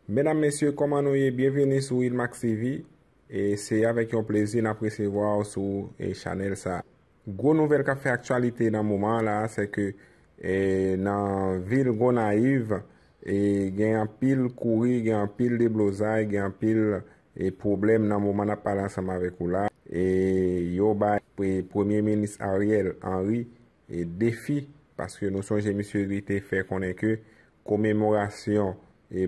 Medam mesye koman nou ye byenveni sou Ilmax TV e se avèk yon plezi nap resevwa w sou chanèl sa. Gwo nouvèl kap fè aktyalite nan moman an la se ke nan vil Gonayiv gen anpil kouri gen anpil deblozay gen anpil pwoblèm nan moman nap pale ansanm avèk ou la e yo bay premye minis Ariel Henry defi paske nou sonje misye li te fè konnen ke komemorasyon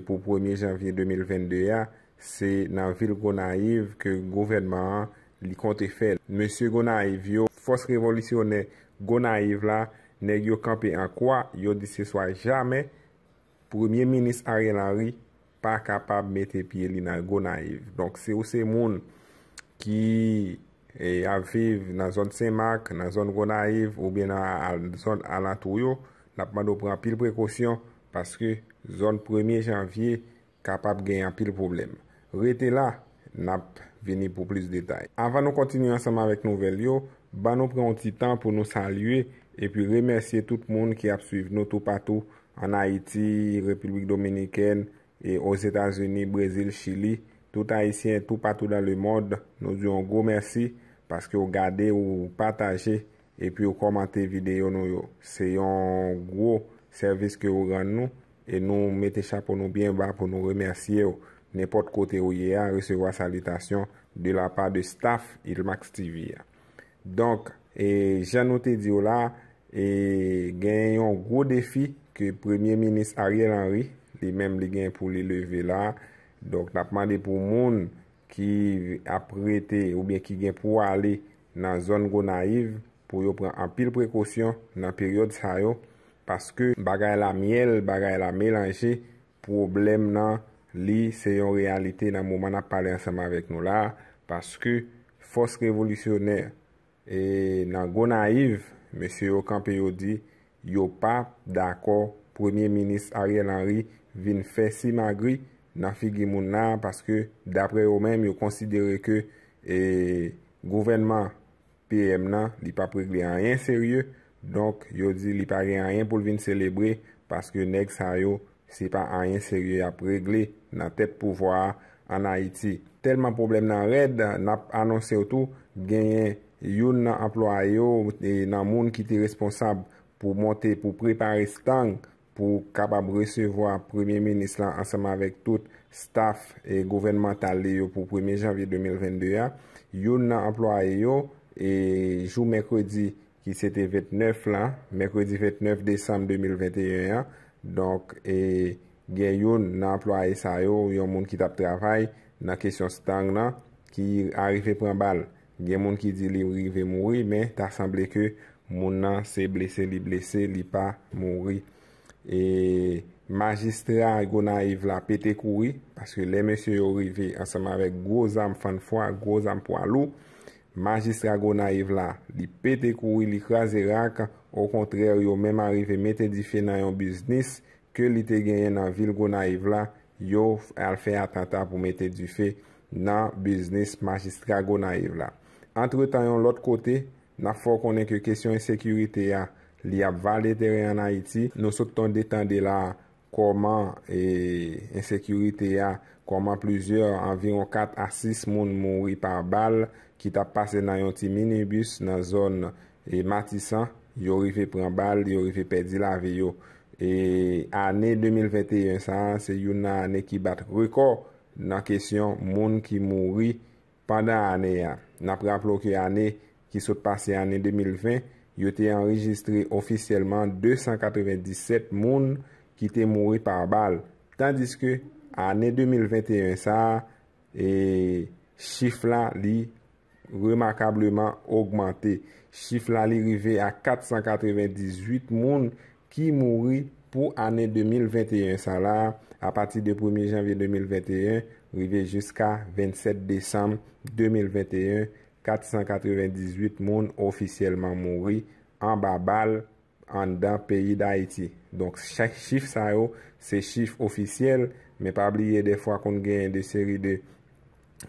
pou premye janvye 2022 a se nan vil Gonayiv ke gouvènman an li konte fè l. Mesye Gonayiv yo, fòs revolisyonè Gonayiv la, nèg yo kanpe an kwa, yo di se swa jamè Premye minis Ariel Henry pa kapab mete pye li nan Gonayiv. Donk si ou se moun ki ap viv nan zòn Senmak, nan zòn Gonayiv oubyen nan zòn alantou yo, n ap mande w pran anpil prekosyon paske zòn premye janvye kapab gen anpil pwoblèm. Rete la, n ap vini pou plis detay. Avan nou kontinye ansanm avèk nouvèl yo, ban nou pran yon ti tan pou nou salye epi remèsye tout moun ki ap swiv nou toupatou ann Ayiti, Repiblik Dominikèn, e Ozetazini, Brezil, Chili. Tout Ayisyen toupatou dan lemond, nou di w yon gwo mèsi paske w gade, ou pataje epiw kòmante videyo nou yo se yon gwo sèvis ke ou rann nou e nou mete chapo nou byen ba pou nou remèsyew nenpòt kote ou ye a resevwa salitasyon de la pa de staff ilmax TV a donk e jan nou te diw la e gen yon gwo defi ke premye minis Ariel Henry li menm li gen pou li leve la donk nap mande pou moun ki ap rete oubyen ki gen pou ale nan zòn Gonayiv pou yo pran anpil prekosyon nan peryòd sa yo paske bagay la myèl bagay la melanje pwoblèm nan li se yon reyalite nan moman nap pale ansanm avèk nou la paske fòs revolisyonè e nan Gonayiv mesye yo kanpe yo di Yo pa dakò premye minis Ariel Henry vin fè simagri nan figi moun la paske daprè yo menm yo konsidere ke gouvènman PM nan li pap regle anyen serye donk yo di li pa gen anyen pou l vin selebre paske nèg sa yo Se pa anyen serye y ap regle nan tèt pouvwa a ann Ayiti. Tèlman pwoblèm nan rèd, n ap anonse w tou genyen youn nan anplwaye w nan moun ki te responsab pou monte, pou prepare stang pou kapab resevwa Premye Minis lan ansanm avèk tout staf gouvènmantal li yo pou premye janvye 2022 a. Youn nan anplwaye yo, jou mèkredi ki se te 29 lan, mèkredi 29 desanm 2021 an, donk e gen youn nan anplwaye sa yo, yon moun ki t ap travay nan kesyon stang lan, ki arive pran bal. Gen moun ki di li rive mouri, men ta sanble ke moun nan se blese li blese, li pa mouri. E majistra Gonayiv la pete kouri, paske lè mesye yo rive ansanm avèk gwo zam fann fwa, gwo zam pwa lou, Majistra Gonayiv la, li pete kouri li kraze rak, okontrè yo menm arive mete dife nan yon biznis ke li te genyen nan vil Gonayiv la, yo al fè atanta pou mete dife nan biznis Majistra Gonayiv la. Antretan yon lòt kote, n ap fè w konnen ke kesyon ensekirite a, li ap vale teren an Ayiti, nou sot tonde tande la Kòman e ensekirite a, kòman plizyè, anviwon 4 a 6 moun mouri pa bal ki tap pase nan yon ti minibus nan zòn e Matisan, yo rive pran bal, yo rive pèdi lavi yo. E ane 2021 sa a, se youn nan ane ki bat rekò nan kesyon moun ki mouri Pandan ane a, n ap raple w ke ane ki sot pase ane 2020, yo te anrejistre ofisyèlman 297 moun ki te mouri pa bal, tandiske ane 2021 sa a, chif la li remakableman ogmante. Chif la li rive a 498 moun ki mouri pou ane 2021 sa la a pati de premye janvye 2021 rive jiska 27 desanm 2021, 498 moun ofisyèlman mouri anba bal anndan peyi Dayiti. Donk chif sa yo se chif ofisyèl men pa bliye dèfwa konn genyen de seri de.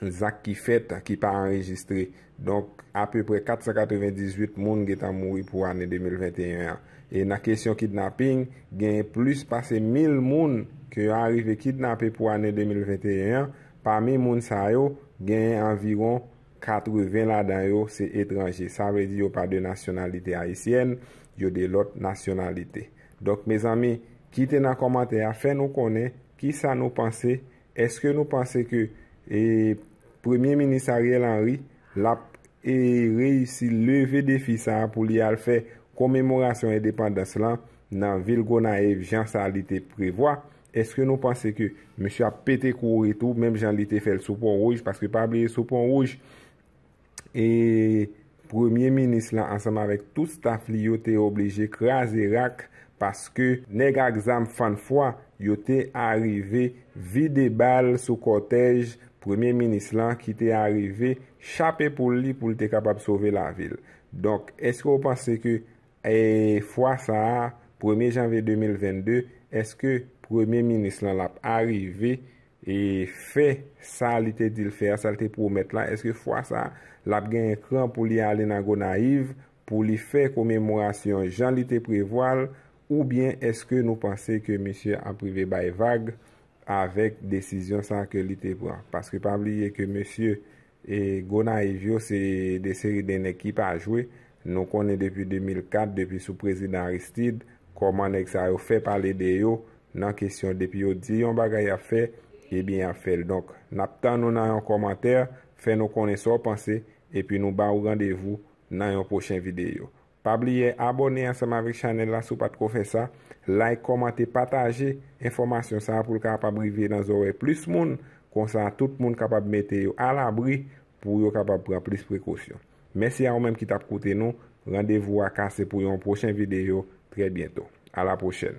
zak ki fèt ki pa anrejistre. Donk, apeprè 498 moun gentan mouri pou ane 2021 an. E nan kesyon kidnaping, genyen plis pase 1000 moun ke yo arive kidnape pou ane 2021 an, pami moun sa yo, genyen anviwon 80 ladan yo se etranje. Sa vle di yo pa de nasyonalite ayisyèn, yo de lòt nasyonalite. Donk, mezanmi, kite nan kòmantè a, fè nou konnen kisa nou panse Eske nou panse ke Premye Minis Ariel Henry lap reyisi leve defi sa pou li al fè komemorasyon endepandans lan nan vil Gonayiv jan sa li te prevwa? Eske nou panse ke misye ap pete kouri tou menm jan li te fè l sou Pon Wouj? Paske pa bliye sou Pon Wouj e premye minis lan ansanm avèk tout staf li yo te oblije kraze rak paske nèg ak zam fann fwa yo te arive vide bal sou kòtèj premye minis lan ki te arive chape poul li pou l te kapab sove lavi l. Donk, èske ou panse ke fwa sa a, premye janvye 2022, èske premye minis lan l ap arive e fè sa li te di l fè a, sa l te pwomèt la, èske fwa sa a, l ap genyen kran pou li ale nan Gonayiv pou li fè komemorasyon jan li te prevwa l oubyen èske nou panse ke misye ap rive bay vag avèk desizyon sa a ke li te pran? Paske pa bliye ke mesye E Gonayiv yo se 2 seri de nèg ki pa jwe, nou konnen depi 2004, depi sou prezidan Aristide, kòman nèg sa yo fè pale de yo nan kesyon depi yo di yon bagay yap fè, ebyen yap fèl. Donk nap tann ou nan yon kòmantè, fè nou konnen sa w panse, epi nou ba ou randevou nan yon pwochen videyo. Pa bliye abòne ansanm avèk chanèl la si w pat ko fè sa, like, kòmante, pataje enfòmasyon sa pou l kapab rive nan zòrèy plis moun, konsa tout moun kapab mete yo alabri pou yo kapab pran plis prekosyon. Mèsi a ou menm ki tap koute nou, randevou a kase pou yon pwochen videyo trè byento. A la pwochèn!